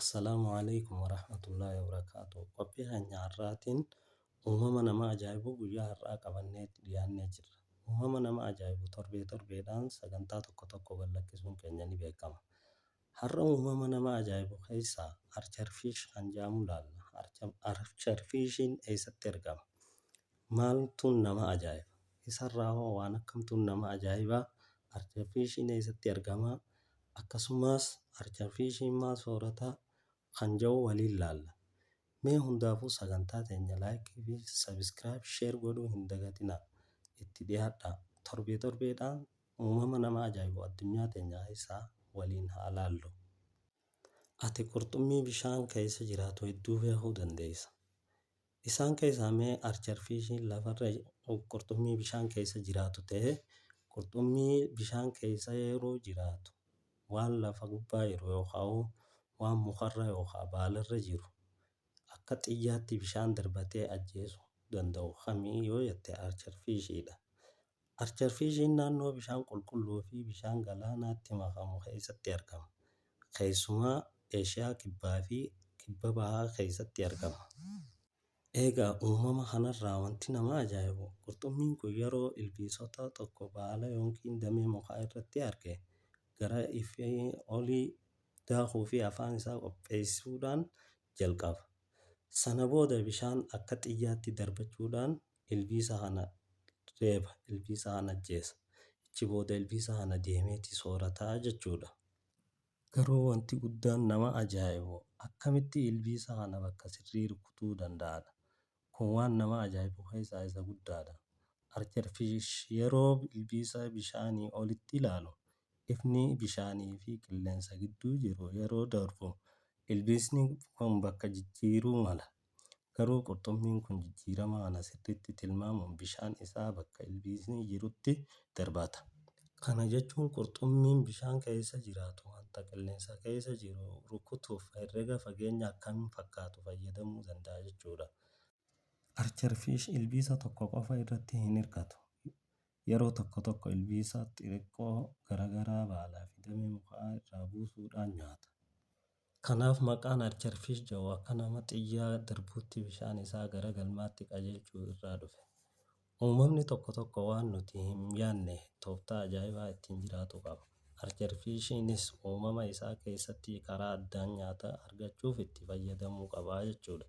Assalaamu alaikum warahmatullahi wabarakaatuh. Qophii keenya har'aatiin uumama nama ajaa'ibu guyyaa har'aa qabannee dhiyaannee jirra. Uumama nama ajaa'ibu torbee torbeedhaan sagantaa tokko tokko gad lakkisuun keenya ni beekama. Har'a uumama nama ajaa'ibu keessaa archerfish kan jedhamu ilaalla. Archerfishiin eessatti argama? Maaltu nama ajaa'iba? Isarraa hoo waan akkamtu nama ajaa'iba? Arjafishiin eessatti argama? Akkasumas arjafishiin maal soorata? Kan jedhu waliin laalla. Mee hundaafuu sagantaa teenya like fi subscribe share godhuu hin dagatinaa. Itti dhiyaadhaa. Torbee torbeedhaan uumama nama ajaa'ibu addunyaa teenya keessaa waliin haa laallu. Ati qurxummii bishaan keessa jiraatu hedduu beekuu dandeessa. Isaan keessaa mee archerfiishiin lafarra qurxummii bishaan keessa jiraatu ta'ee qurxummii bishaan keessa yeroo jiraatu waan lafa gubbaa jiru yookaan waan mukarra yookaan baalarra jiru akka xiyyaatti bishaan darbatee ajjeesu danda'u kamii yoo jette archerfiishiidha. Archerfiishiin naannoo bishaan qulqulluu fi bishaan galaanaatti makamu keessatti argama. Keessumaa Eeshiyaa Kibbaa fi Kibba Bahaa keessatti argama. Egaa uumama kanarraa wanti nama ajaa'ibu qurxummiin kun yeroo ilbiisota tokko baala yookiin damee mukaa irratti arge gara ifee olii daakuu fi afaan isaa qopheessuudhaan jalqaba. Sana booda bishaan akka xiyyaatti darbachuudhaan ilbiisa kana reeba, ilbiisa kana ajjeesa. Achi booda ilbiisa kana deemeeti soorata jechuudha. Garuu wanti guddaan nama ajaa'ibu akkamitti ilbiisa kana bakka sirrii rukutuu danda'adha. Kun waan nama ajaa'ibu keessaa isa guddaadha. Archer fish yeroo ilbiisa bishaanii olitti ilaalu ifni bishaanii fi qilleensa gidduu jiru yeroo darbu ilbiisni kun bakka jijjiiruu mala. Garuu qurxummiin kun jijjiirama kana sirriitti tilmaamuun bishaan isaa bakka ilbiisni jirutti darbaata. Kana jechuun qurxummiin bishaan keessa jiraatu wanta qilleensa keessa jiru rukutuuf herrega fageenya akkam fakkaatu fayyadamuu danda'a jechuudha. Archer fish ilbiisa tokko qofa irratti hin hirkatu. Yeroo tokko tokko ilbiisa xixiqqoo garagaraa baalaa fi damee mukaa irraa buusuudhaan nyaata. Kanaaf maqaan Archerfish jedhu akka nama xiyyaa darbuutti bishaan isaa gara galmaatti qajeelchu irraa dhufe. Uumamni tokko tokko waan nuti hin yaadne tooftaa ajaa'ibaa ittiin jiraatu qaba. Archerfishiinis uumama isaa keessatti karaa addaan nyaata argachuuf itti fayyadamuu qaba jechuudha.